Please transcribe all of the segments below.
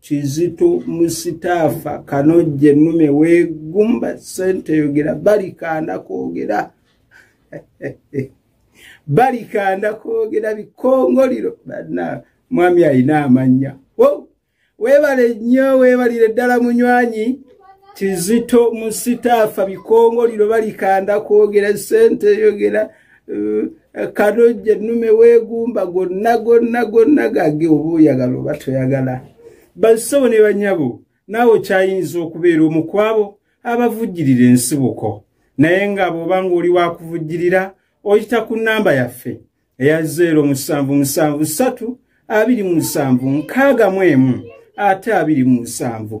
kizito musitaafa kanojje nume wegumba sente yogera balikanda kwogera balikanda kwogera bikongoliro bana mwami alina amanya webale nnyo webalire ddala munywanyi kizito musitaafa bikongoliro balikanda kwogera sente yogera eh, kalojja ennume weegumba gonna gonna gonna gage oba oyagala oba toyagala bassebo ne banyabo naawe okyayinza okubeera omu kwabo abavujjirira ensibuko naye nga bw'oba ng'oli wakuvujjirira oyita ku nnamba yaffe eya 0773 27 nkaaga mu emu ate 27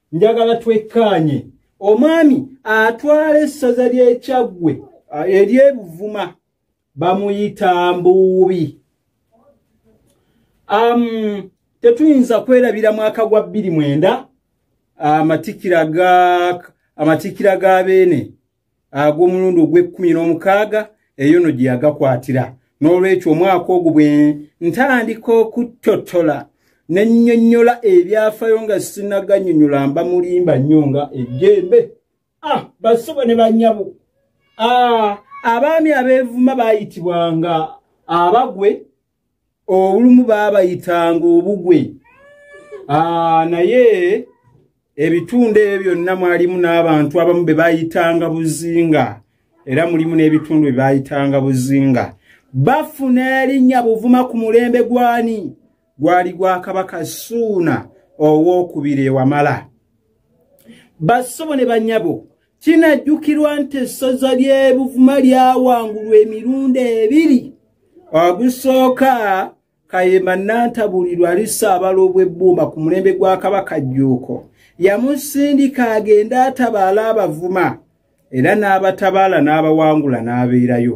njagala twekkaanye omwami atwala essaza ly'ekyaggwe ery'ebuvuma bamuyita mbuubi um, tetuyinza kwerabira mwaka gwa bbiri mwenda amatikira ga amatikira ga beene ag'omulundi ogw'ekkumi n'omukaaga eyo no gye yagakwatira n'olwekyo omwaka ogwo bwe ntandika okuttotola ne nnyonnyola ebyafayo nga sinaganyonyola mba mulimba nnyo nga ejjembe ah, basubo ne banyabo ah, abaami abeevuma baayitibwanga abagwe olumu baabayitanga obugwe ah, naye ebitundu ebyo byonna mwalimu n'abantu abamu be bayitanga buzinga era mulimu n'ebitundu bye bayitanga buzinga bafuna erinnya buvuma ku mulembe gwani gwali gwa kabaka suuna ow'okubiri ewamala basobo ne banyabo Kinajjukirwa nti essoza ly'ebuvuma lyawangulwa emirundi ebiri ogusooka kayemba nantabulirwa ali saabala obw'ebbuuma ku mulembe gwa kabaka jjuuko yamusindika agende atabaala abavuma era n'abatabaala n'abawangula n'abeerayo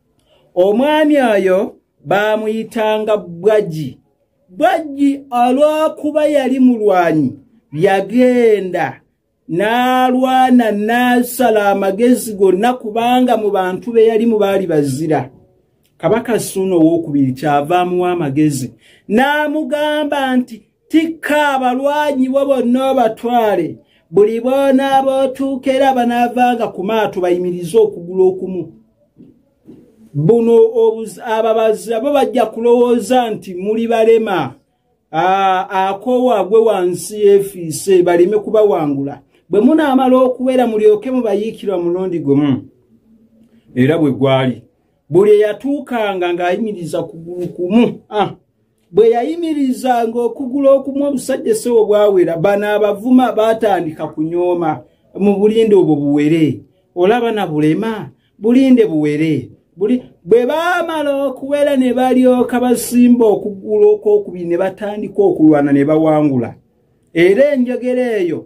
omwami oyo baamuyitanga bwagi bwagi olw'okuba yali mulwanyi yagenda n'alwana n'asala amagezi gonna kubanga mu bantu be yalimu baali bazira kabaka suuna owokubiri kyava amuwa amagezi n'amugamba nti tikka abalwanyi bo bonna obatwale buli boona abootuuka era banaavanga ku maato bayimirize okugula okumu buno ababazi abo bajja kulowooza nti muli balema akoowa gwe wansi yefiise baleme kubawangula bwe munaamala okubeera mulyoke mubayiikirwa mulundi gumu era bwe gwali buli eyatuukanga ng'ayimiriza kugulu kumu ah. bwe yayimirizanga okugula okumu omusajja essewo bwawera bano abavuma baatandika kunyooma mu bulinde obwo buwere olaba na bulema bulinde buwere bwe baamala okuwera ne balyoka basimba okugula okwokubiri ne batandika okulwana ne bawangula era enjogera eyo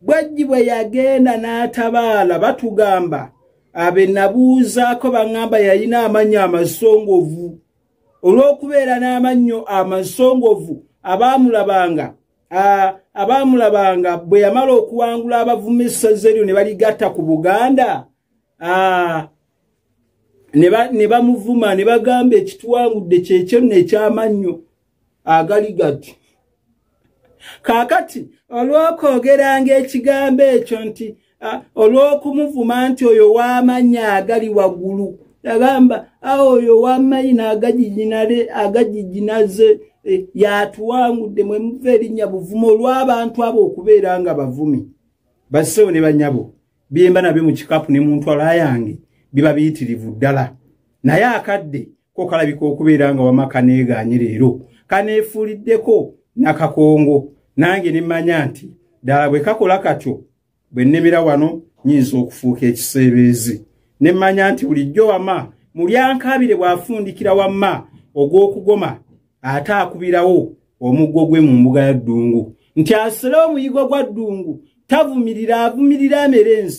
bwajji bwe yagenda n'atabaala batugamba abe nabuuzaako baŋŋamba yalina amannyo amasongovu olw'okubeera n'amannyo amasongovu abaamulabanga abaamulabanga bwe yamala okuwangula abavuma essaza eryo ne baligatta ku buganda ne bamuvuma ne bagamba ekituwangudde kyekyo nno ekyamannyo agali gati kaakati olw'okwogeranga ekigambo ekyo nti olw'okumuvuma nti oyo w'amannya agali waggulu yagamba awo oyo w'amayina agajijinale agajijinaze eh, yatuwangudde mwe muva erinnya buvumo olw'abantu abo okubeera nga bavumi basewo ne banyabo byemba nabyo mu kikapu ne mu ntwala yange biba biyitirivu ddala naye akadde ko kalabika okubeera nga wama kaneegaanye leero kaneefuuliddeko nakakongo nange ne mmanya nti ddala bwe kakola katyo bwe nnemera wano nyinza okufuuka ekiseebeezi ne mmanya nti bulijjo wama mulyankabire bw'afundikira wamma ogw'okugoma ate akubirawo omuggo gwe mu mbuga ya ddungu nti asole omuyigwa gwa ddungu tavumirira avumirira amerenzi